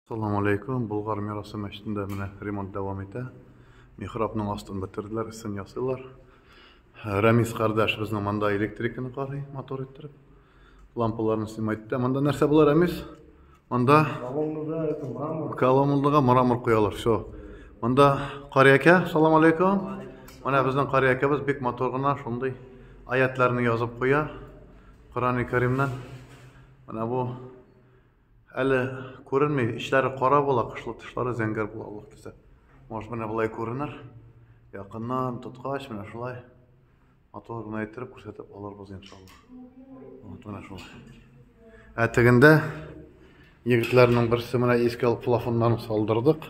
Салам алейкум, Болгар мирасы мәчетендә менә ремонт дәвам итә. Михрабның астын бетерделәр, өстен ясыйлар. Рәмис кардәш безнең монда электриканы карый, мотор иттереп. Лампаларны снимать итә. Монда нәрсә була, Рәмис? Монда колоннада мрамор куялар. Все. Монда кариякә, салам алейкум. Менә безнең кариякәбез бик мотор гына, шундый аятларны язып куя. Коран-и Каримнан. Менә бу Әле күренми, ичләре кара була, кышлы тышлары зәңгәр була Аллаһ төзә. Может, менә болай күренер. Якыннан тоткач, менә шулай матур гына иттереп күрсәтеп алырбыз иншаллаһ. Вот менә шулай. Ә тегендә егетләрнең берсе менә иске алып плафоннан салдырдык.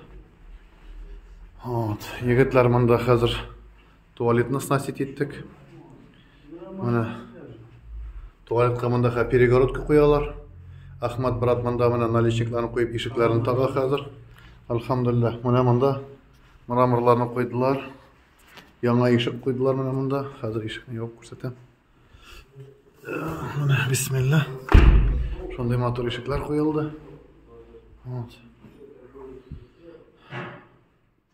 Вот, егетләр монда хәзер Туалетны снастить иттек. Менә туалетка мондагы перегородка куялар. Ахмат брат монда менә наличникларын куеп ишекләрен тага хәзер. Алхамдулиллах, менә монда мраморларны куйдылар. Яңа ишек куйдылар менә монда. Хәзер ишекне ябып күрсәтәм. Менә бисмилла. Шундый матур ишекләр куелды. Вот.